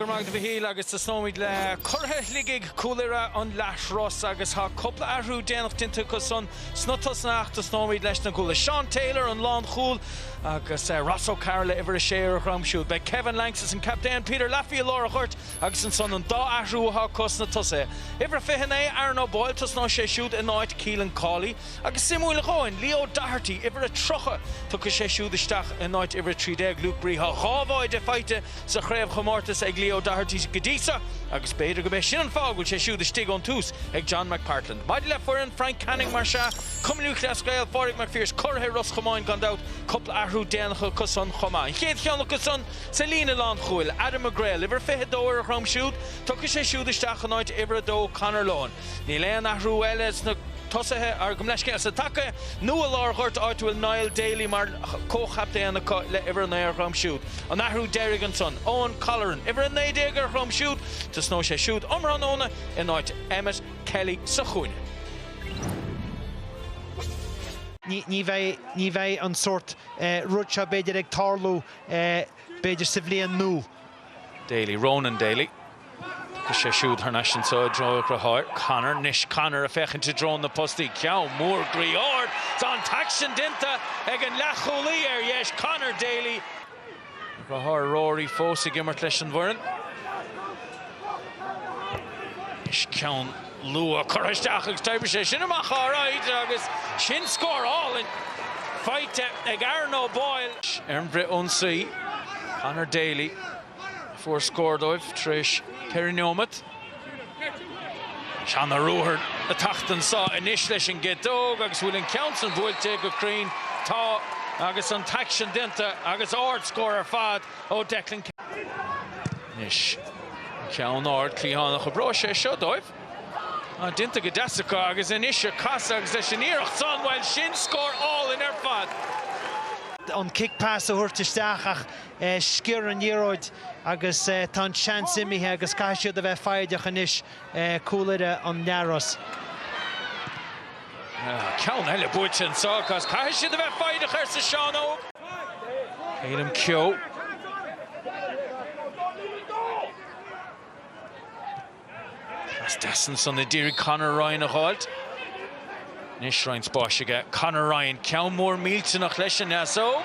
Go raibh maith agat a Mhichíl agus tosnóimid le curaidh Shligigh, Cúil Irra an Leathros agus tá cúpla athrú déanach déanta acu san sna tosaithe ach tosnóimid leis na cúlaithe Seán Taylor an lánchúl agus Ross O Carroll uimhir a sé ar dhroim siúd. Beidh Kevin Banks is an captaen Peter Laffey i lár an ghoirt agus ansan an dá athrú atá acu sna tosaithe. Uimhir a fiche naoi Aaron O Boyle tosnóidh sé siúd in áit Keelan Cawley. Agus suimiúil a dhóthain, Leo Doherty, uimhir a 30, tiocfaidh sé siúd isteach in áit uimhir 13, Luke Bree. Tá dhá bháide faighte sa chraobhchomórtas ag Leo Doherty go dtí seo agus b'fhéidir gurb é sin an fáth go bhfuil sé siúd istigh ón tús ag John McPartlan. Maidir le foireann Frank Canning, más ea, Cumann Lúthchleas Gael, Pádraig Mac Phiarais curaidh Ros Chomáin gan dabht, cúpla athrú déanach acu san chomh maith. An chéad cheann acu san sa líne lánchúil, Adam McGreal, uimhir 22, ar a dhroim siúd, tiocfaidh sé siúd isteach in áit uimhir 2, Conor Lohan. Níl aon athrú eile sna tosaithe ar gabh mo leithscéal sa taca nó i lár an ghoirt áit a bhfuil Niall Daly mar comhchaptaen acu le uimhir 9 ar dhroim siúd. An athrú deiridh ansan, Eoin Colleran, uimhir 19 ar dhroim siúd, tosnóidh sé siúd um thráthnóna in áit Emmett Kelly sa chúinne. Ní bheidh, ní bheidh an sórt rud seo b'fhéidir ag tarlú b'fhéidir sa bhliain nua. Daly, Ronan Daly. Tá sé siúd thar n-ais anso i dtreo a dhriotháir, Conor. 'Nois Conor a' féachaint i dtreo na postaí. Ceann mór groí ard! Tá an t-aicsean déanta ag an leath-chúlaí, ar dheis, Conor Daly. A dhriotháir Rory fós ag imirt leis an bhfoireann. 'Nois ceann. Luadh curtha isteach agus taobhaigh sé sin amach áiride agus sin scór álainn faighte ag Aaron O Boyle. Ar an bhfrithionsaí, Conor Daly a fuair scór dóibh tar éis ceithre neomat. Seo an ruathar ag teacht anso anois leis an gciotóg agus bhfuil an ceann san buailte go cruinn. Tá agus an t-aicsean déanta agus ardscór ar fad. ó Declan Kelly. Anois ceann ard cliathánach an oibreoidh sé seo dóibh. Déanta go deas acu agus anois ag casadh agus leis an iarracht san, bhuel sin scór álainn ar fad! an cic pas a thabhairt isteach ach sciorr an liathróid agus tá an seans imithe agus caithfidh siad a bheith foighdeach anois, Cúil Irra an Leathros. Ceann eile buaite anseo agus caithfidh siad a bheith foighdeach, arsa Seán Óg. Caelim Keogh. Pas deas ansan a d'iarraidh Conor Ryan a dh'fháilt. Anois roinnt spáis aige Conor Ryan, ceann mór millteanach leis an ndeasóg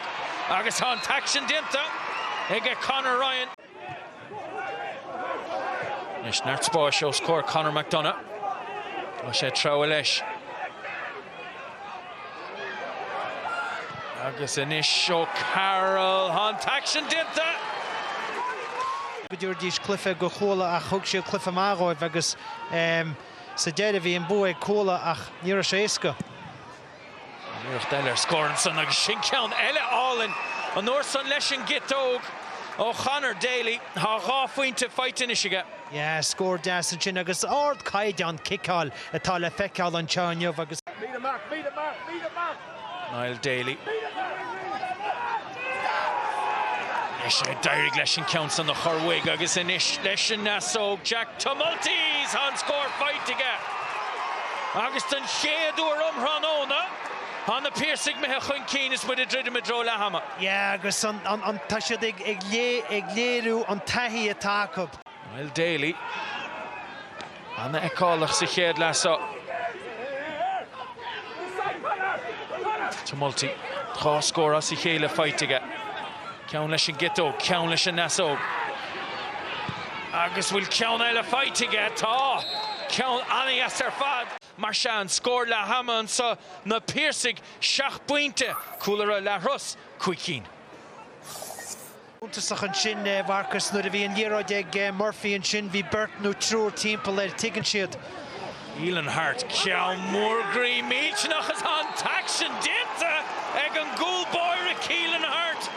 agus tá an t-aicsean déanta ag Conor Ryan. Anois neart spáis os comhair Conor McDonagh. Tá sé ag treabhadh leis. Agus anois O'Carroll, tá an t-aicsean déanta! go dtabharfaidís cluife go Cuala ach thug siad cluife maith dhóibh agus sa deireadh bhí an bua ag Cuala ach ní raibh sé éasca. Iarracht eile ar scór ansan agus sin ceann eile álainn an uair san leis an gciotóg ó Chonor Daly. Tá dhá phointe faighte anois aige. Yeah, scór deas ansin agus ard caighdeán ciceáil atá le feiceáil anseo inniu agus. Niall Daly. Anois a d'éirigh leis an ceann san a chur uaidh agus anois leis an ndeasóg, Jack Tumulty! Tá an scór faighte aige agus don chéad uair um thráthnóna tá na Piarsaigh imithe chun cinn is muid ag druidim i dtreo leath ama. Yeah agus tá siad ag léiriú an taithí atá acu. Niall Daly, an-fheiceálach sa chéad leath seo. Tumulty, dhá scór as a chéile faighte aige. Ceann leis an gciotóg, ceann leis an ndeasóg. Agus bhfuil ceann eile faighte aige? Tá! Ceann an-dheas ar fad. Mar sin, scór leath ama anseo, na Piarsaigh seacht bpointe, Cúil Irra Leathros, cúig cinn. suntasach ansin a Mharcuis nuair a bhí an liathróid ag Murphy ansin bhí beirt nó triúr timpeall air, tuigeann siad. Keelan Harte ceann mór groí millteanach agus tá an t-aicsean déanta ag an gcúl báire Keelan Harte.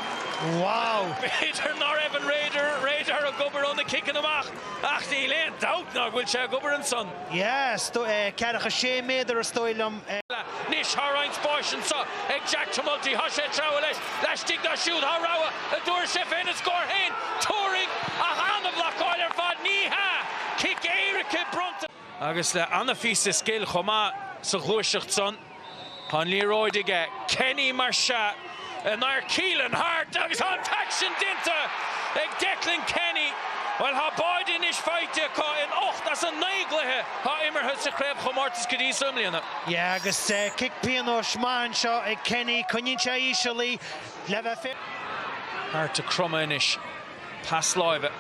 Wow! B'fhéidir ná raibh an radar ag obair ó na ciceanna amach ach níl aon dabht ná go bhfuil sé ag obair ansan. Yes, ceathracha is sé méadar is dóigh liom. Anois tá roinnt spáis anseo ag Jack Tumulty, tá sé ag treabhadh leis laistigh dá siúd, tá rogha a dturas, sé féin an scór féin, Tuairín, ach an-bhlocáil ar fad, ní hea! Cic éirice bronnta. Agus le an-phíosa scil chomh maith sa ghluaiseacht san. Tá an liathróid aige, Kenny mar sea in aghaidh Keelan Harte agus tá an t-aicsean déanta ag Declan Kenny. Bhuel tá báide anois faighte acu in ocht as an naoi gcluiche atá imeartha sa chraobhchomórtas go dtí so i mbliana. Yeah agus cic pionóis maith anseo ag Kenny, coinníonn sé íseal í le bheith fé. Harte cromtha anois. Pas láimhe.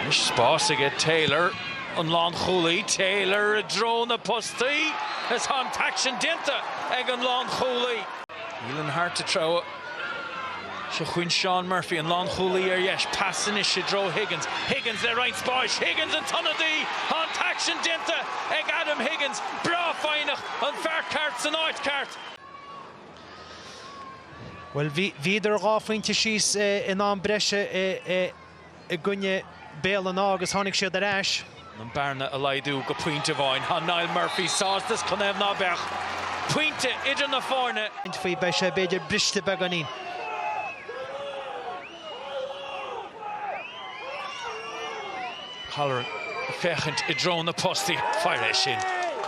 Anois spás aige Taylor, an lánchúlaí, Taylor i dtreo na postaí is tá an t-aicsean déanta ag an lánchúlaí. Keelan Harte treabhadh. Seo chugainn Seán Murphy, an lánchúlaí ar dheis, pas anois i dtreo Higgins, Higgins le roinnt spáis, Higgins an t-ionadaí, tá an t-aicsean déanta ag Adam Higgins, breá foighneach, an fear ceart san áit cheart. Bhuel, bhíodar dhá phointe síos in am breise i gcoinne Béal an Átha agus tháinig siad ar ais. chun an bhearna a laghdú go pointe amháin. Tá Niall Murphy sásta, is cnámh ná beadh pointe idir na foirne. faoi, beidh sé b'fhéidir briste beagáinín. Colleran ag féachaint i dtreo na postaí. Fairis sin,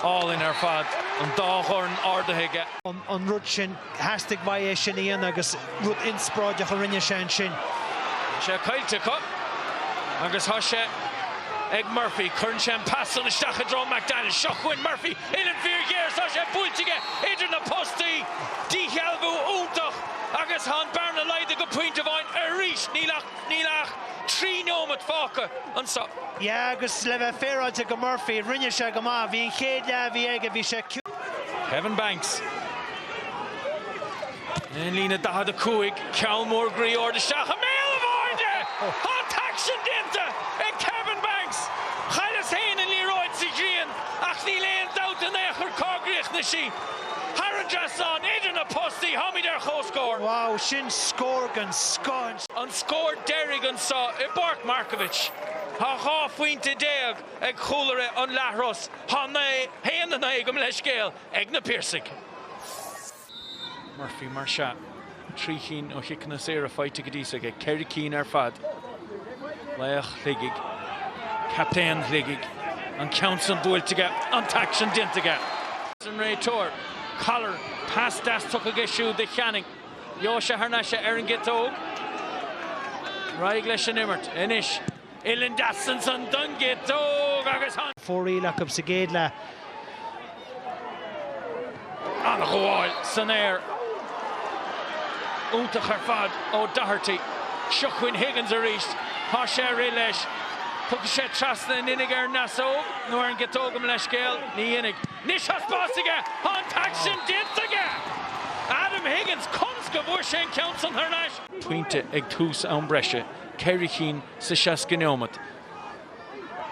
álainn ar fad, an dá dhorn ardaithe aige. an rud sin. Theastaigh uaidh é sin a dhéanamh agus rud inspioráideach a rinne sé ansin. Tá sé caillte acu agus tá sé ag Murphy. Cuireann sé an pas san isteach i dtreo McDaniel. Seo chugainn Murphy, uillinn fíorghéar is tá sé buailte aige idir na postaí. Díshealbhú iontach. Agus tá an bearna laghdaithe go pointe amháin arís, níl ach níl ach trí neomat fágtha anseo. Yeah agus le bheith féaráilte do Murphy, rinne sé go maith. Bhí an chéad leath a bhí aige, bhí sé ciúin. Kevin Banks, ón líne 45, ceann mór groí ard isteach i mbéal an bháide! Tá an t-aicsean déanta ag Kevin Banks! Chailleas féin an liathróid sa ghrian ach níl aon dabht in aon chor cá gcríochnaigh sí. Thar an dtrasnán idir na postaí, táimid ar chomhscór. Wow, sin scór den scoth! An scór deiridh anseo i bPáirc Markievicz. Tá 12 phointe ag Cúil Irra an Leathros, tá 9, 1, 9, gabh mo leithscéal, ag na Piarsaigh. Murphy mar shea. Trí chinn ó chiceanna saora faighte go dtí so aige, ceithre chinn ar fad. Laoch Shligigh, captaen Shligigh, an ceann san buailte aige, an t-aicsean déanta aige. An réiteoir, Colleran, pas deas tugtha aige siúd do Channing. Gheobhaidh sé thar n-ais é ar an gciotóg. Ar aghaidh leis an imirt anois. Uillinn deas ansan don gciotóg agus tháinig. fóraoil acu sa gcéad leath. An-ghabháil san aer. Iontach ar fad ó Doherty. Seo chugainn Higgins arís. Tá sé ag rith leis. Tógfaidh sé trasna in innig ar an deasóg nó ar an gciotóg gabh mo leithscéal. Ní dhéanfaidh. Anois tá spás aige! Tá an t-aicsean déanta aige! Adam Higgins, conas go bhfuair sé an ceann san thar n-ais? pointe ag tús am breise ceithre chinn sa 60 neomat.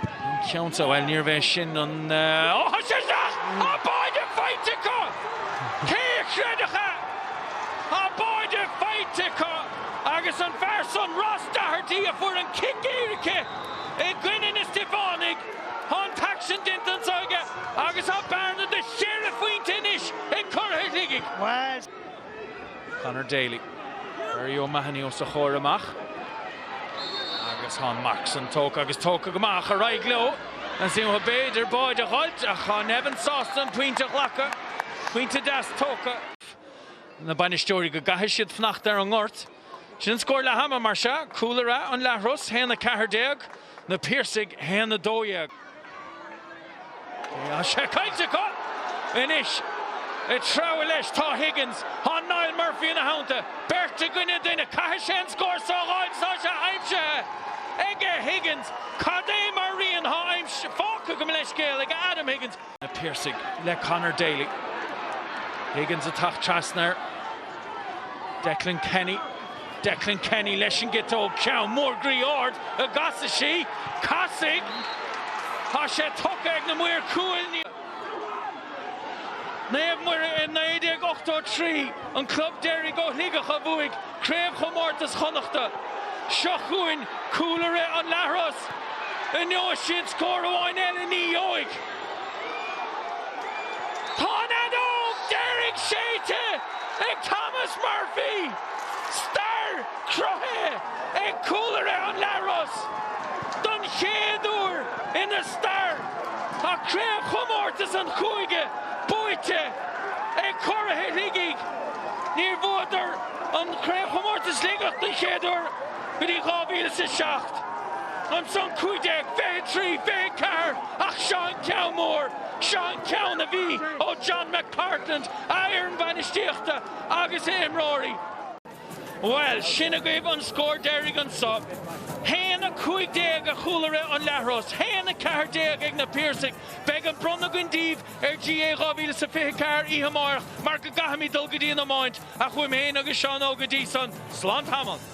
An ceann seo, bhuel níorbh é sin an, ó thá sé isteach! Thá báide faighte acu! Cé a chreidfeadh é? Thá báide faighte acu agus an fear san, Ross Doherty, a fuair an cic éirice i gcoinne na Stiofánaigh, thá an t-aicsean déanta anso aige agus thá bearna de cheithre phointe anois ag curaidh Shligigh. Conor Daly. Barry O'Mahony os a chomhair amach. Agus thá an marc san tógtha agus tógtha go maith ach ar aghaidh leo. Ag súil go b'fhéidir báide a dh'fháilt ach thá Nevin sásta an pointe a ghlacadh. Pointe deas tógtha. Na bainisteoirí go gcaithfidh siad fanacht ar an ngort. Sin an scór leath ama mar sea, Cúil Irra an Leathros 1 14, Na Piarsaigh 1 12. Tá sé caillte acu anois. Ag treabhadh leis tá Higgins, tá Niall Murphy ina theannta, beirt i gcoinne duine, caithfidh sé an scór so a dh'fháil, tá sé aimsithe ag Higgins, cad é mar rian thá aimsithe, fágtha, gabh mo leithscéal, ag Adam Higgins. na Piarsaigh le Conor Daly. Higgins ag teacht trasna air. Declan Kenny. Declan Kenny leis an gciotóg. Ceann mór groí ard, an gcasfaidh sí? Casfaidh! Tá sé tugtha ag na maoir cúil. Naomh Muire i 1983 an club deiridh ó Shligeach a bhuaigh Craobhchomórtas Chonnachta. Seo chugainn Cúil Irra an Leathros. An ngeobhaidh siad scór amháin eile ní gheobhaidh. Tá an fheadóg deiridh séidte ag Thomas Murphy. Stair cruthaithe ag Cúil Irra an Leathros. Don chéad uair ina stair tá craobhchomórtas an chúige buaite ag Curaithe Shligigh. Níor bhuadar an Craobhchomórtas Sligeach don chéad uair go dtí 2007. Ansan 15, 23, 24 ach seo an ceann mór, seo an ceann a bhí ó John McPartland, a fhoireann bhainistíochta agus a imreoirí. Bhuel, sin agaibh an scór deiridh anseo, 1-15 ag Cúil Irra an Leathros, 1-14 ag na Piarsaigh. Beidh an bronnadh againn daoibh ar GAA 2024 oíche amárach mar go gcaithfimid dul go dtí an iomáint ach uaim féin agus Seán Óg go dtí san, slán tamall!